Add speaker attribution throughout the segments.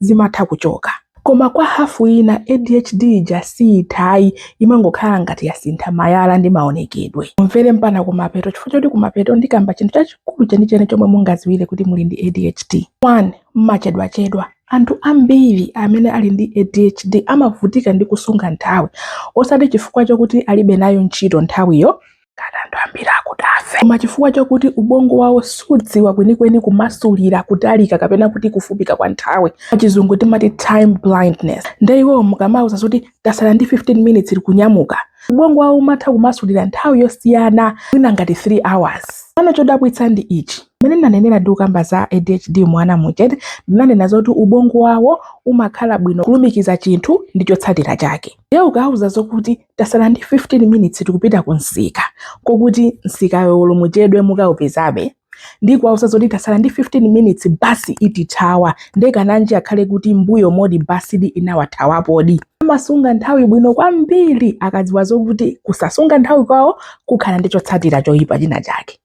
Speaker 1: zimatha kuchoka koma kwa hafu ina adhd ija siithayi imangokhala ngati yasintha mayala ndi maonekedwe mumvere mpana kumapeto chifukwa choti kumapeto ndikamba chinthu chachikulu chenicheni chomwe mungaziwire kuti muli ndi adhd 1 mmachedwachedwa anthu ambiri amene ali ndi adhd amavutika ndi kusunga nthawi osati chifukwa chokuti alibe nayo ntchito nthawiyo ngati anthu ambiri akudafe koma chifukwa chakuti ubongo wawo siudziwa kwenikweni kumasulira kutalika kapena kuti kufupika kwa nthawi pachizungu timati time blindness nde iwowo mukamauza zoti tasala ndi 15 minutes tikunyamuka ubongo wawo umatha kumasulira nthawi yosiyana mwina ngati 3 hours pano chodabwitsa ndi ichi mmene ndinanenera ndi kukamba za adhd mwa ana muja ndinanena zoti ubongo wawo umakhoza bwino kulumikiza chinthu ndi chotsatira chake ndiye ukauza zokuti tasala ndi 15 minutes tikupita ku msika kokuti msikawo olo muchedwe mukaupezabe ndi kuwauza zoti tasala ndi 15 minutes basi itithawa ndekananji akhale kuti mbuyomo basidi inawathawapodi amasunga nthawi bwino kwambiri akadziwa zokuti kusasunga nthawi kwawo kukhala ndi chotsatira choyipa china chake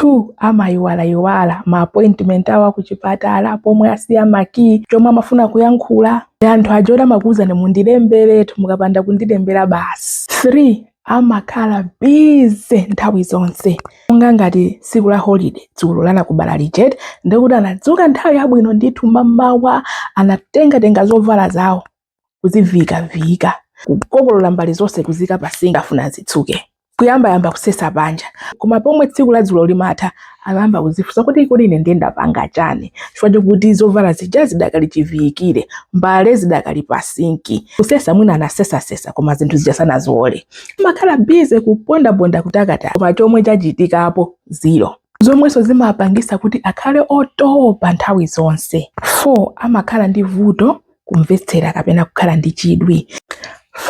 Speaker 1: 2 amayiwalayiwala ma appointment awo akuchipatala pomwe asiya makiyi chomwe amafuna kuyankhula anthu aja oti amakuwuzani mundilemberetu mukapanda kundilembera basi 3 amakhala bize nthawi zonse monga ngati tsiku la holiday dzulo la Nakubala lija eti ndikuti anadzuka nthawi yabwino ndithu mamawa anatengatenga zovala zawo kuziviikaviyika kukokolola mbale zonse kuziika pa sinki afuna zitsuke kuyambayamba kusesa panja koma pomwe tsiku la dzulo limatha amayamba kuzifunsa kuti kodi ine ndiye ndapanga chani chifukwa chokuti zovala zija zidakali chiviyikire mbale zidakali pa sinki kusesa mwina anasesasesa koma zinthu zija sanaziwole amakhala bize kupondaponda kutakata koma chomwe chachitikapo zero zomwenso zimapangisa kuti akhale otopa nthawi zonse 4 amakhala ndi vuto kumvetsera kapena kukhala ndi chidwi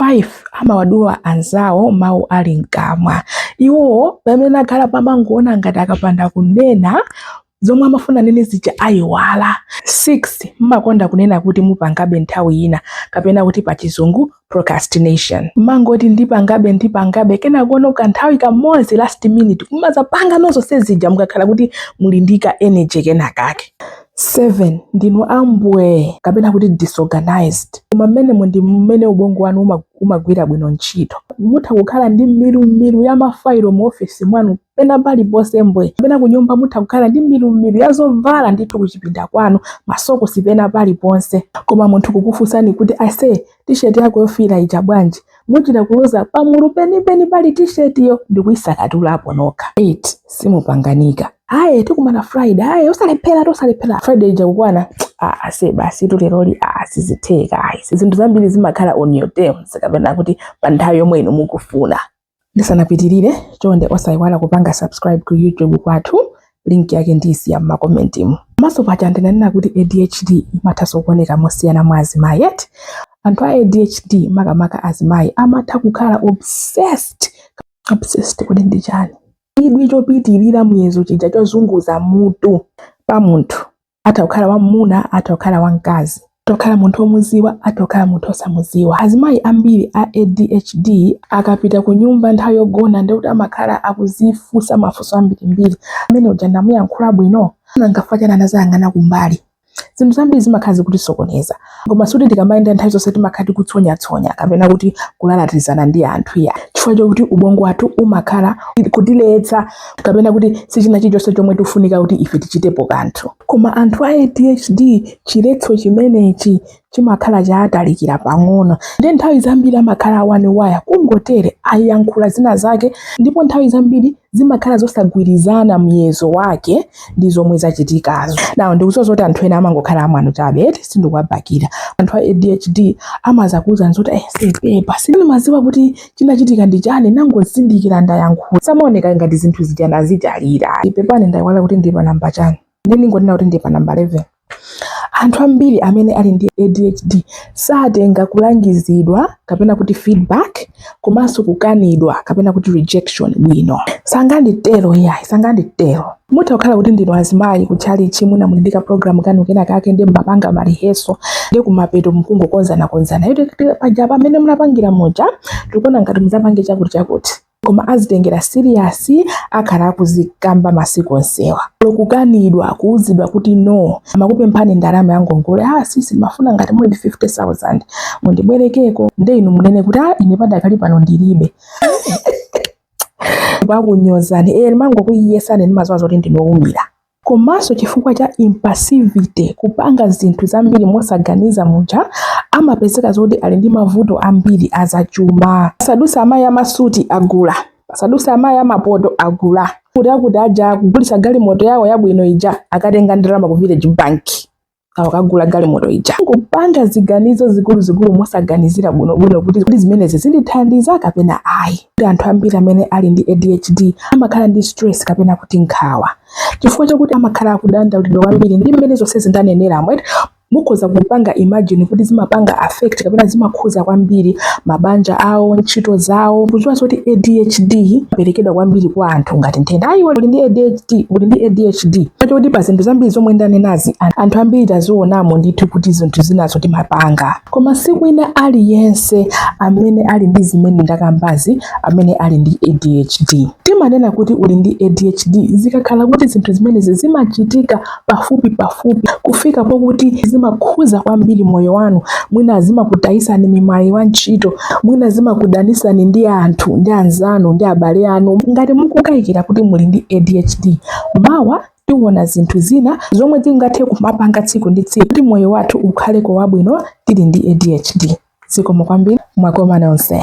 Speaker 1: 5 amawadula anzawo mawu ali mkamwa iwo pamene akhalapa amangoona ngati akapanda kunena zomwe amafuna anene zija ayiwala 6 mmakonda kunena kuti mupangabe nthawi ina kapena kuti pachizungu procrastination mmangoti ndipangabe ndipangabe kenakono pa nthawi kamodzi last minute kumazapanga zonse zija mukakhala kuti muli ndi ka energy kenakake 7 ndinu ambwee kapena kuti disorganized koma mmenemo ndi mmene ubongo wanu umagwira bwino ntchito mutha kukhala ndi milumilu ya mafailo mu ofesi mwanu pena paliponse mbwe kapena kunyumba mutha kukhala ndi milumilu ya zovala ndithu kuchipinda kwanu masokosi pena paliponse koma munthu kukufunsani kuti ase tisheti yako yofiira ija bwanji muchita kuloza pamulu penipeni pali tishetiyo ndikuyisakatulapo nokha 8 simupanganika aye tikumana friday aye usalephera osalephera friday ija kukwana ah ase basitu leroli sizitheka ayi zinthu zambiri zimakhala on your terms kapena kuti pa nthawi yomwe inu mukufuna Ndisanapitirire, chonde osayiwala kupanga subscribe ku YouTube kwathu, link yake ndiyisiya m'makomentimu. Komanso paja ndinanena kuti ADHD imathanso kuoneka mosiyana mwa azimayi eti? Anthu a ADHD makamaka azimayi amatha kukhala obsessed. Obsessed kodi ndi chani? Chidwi chopitirira muyezo chija chozunguza mutu pa munthu. atha kukhala wam'muna atha kukhala wamkazi atha kukhala munthu omuziwa atha kukhala munthu osamuziwa azimayi ambiri a adhd akapita ku nyumba nthawi yogona ndekuti amakhala akuzifunsa mafunso ambirimbiri amene uja ndamuyankhula bwino nanga chifukwa chani anazayang'ana kumbali zinthu zambiri zimakhala zikutisokoneza koma sikuti tikamayenda nthawi zonse timakhala tikutsonyatsonya kapena kuti kulalatizana ndi anthu iya chifukwa chokuti ubongo wathu umakhala kutiletsa kapena kuti si china chilichonse chomwe tifunika kuti ife tichitepo kanthu koma anthu a adhd chiletso chimenechi chimakhala chatalikira pang'ono ndi nthawi zambiri amakhala awaniwaya kungotere ayankhula zina zake ndipo nthawi zambiri zimakhala zosagwirizana muyezo wake ndi zomwe zachitikazo now ndikuziwa zoti anthu ena amangokhala amwano chabe eti sindikuwabakira anthu a adhd amazakuuza nzoti ase pepa sindimaziwa kuti chinachitika ndi chani nangozindikira ndayankhula samaoneka ngati zinthu zija anazidalira ii pepani ndayiwala kuti ndi pa namba chani ndingonena kuti ndi pa namba 11 Anthu ambiri amene ali ndi ADHD satenga kulangizidwa kapena kuti feedback komanso kukanidwa kapena kuti rejection bwino. Sanganditero iyayi, sanganditero. Mutha kukhala kuti ndinu azimayi ku tchalitchi mwina muli ndi kaprogramu kanu kena kake nde mmapanga maliheso nde kumapeto mkungokonzanakonzana. Paja pamene munapangira muja tikuona ngati mudzapange chakuti chakuti. koma azitengera serious akhala akuzikamba masiku onsewa olo kukanidwa kuuzidwa kuti no amakupemphani ndalama ya ngongole ah sisi mafuna ngati muli ndi 50000 mundibwerekeko nde inu munene kuti ah ine padakali pano ndilibe akunyozani eti eh, mangokuyesani ndimaziwa zoti ndinu oumira Komanso chifukwa cha impulsivity, kupanga zinthu zambiri mosaganiza muja, amapezeka zoti ali ndi mavuto ambiri azachuma. Pasaduse amayi amasuti agula, pasaduse amayi amapoto agula, kuti akuti aja akugulitsa galimoto yawo yabwino ija akatenga ndalama ku Village Bank. awakagula galimoto ija kupanga ziganizo zikuluzikulu mosaganizira bwinobwino kuti zimenezi zindithandiza kapena ayi anthu ambiri amene ali ndi adhd amakhala ndi stress kapena kuti nkhawa chifukwa chakuti amakhala akudandaulidwa kwambiri ndi mmene zonse zindaneneramu mukhoza kupanga imagine kuti zimapanga affect kapena zimakhuza kwambiri mabanja awo ntchito zawo kudziwa zoti adhd siperekedwa kwambiri kwa anthu ngati nthenda ayi uli ndi adhd kuti uli ndi ADHD chifukwa choti pa zinthu zambiri zomwe ndanenazi an- anthu ambiri tazionamo ndithu kuti zinthu zinazo timapanga koma sikuti wina aliyense amene ali ndi zimene ndakambazi amene ali ndi ADHD timanena kuti uli ndi ADHD zikakhala kuti zinthu zimenezi zimachitika pafupi pafupi kufika pokuti zimakhuza kwambiri moyo wanu mwina zimakutayisani mwayi wa ntchito mwina zimakudanisani ndi anthu ndi anzanu ndi abale anu ngati mukukayikira kuti muli ndi adhd mawa tiona zinthu zina zomwe tingathe kumapanga tsiku ndi tsiku kuti moyo wathu ukhaleko wabwino tili ndi adhd zikomo kwambiri mwakomana nonse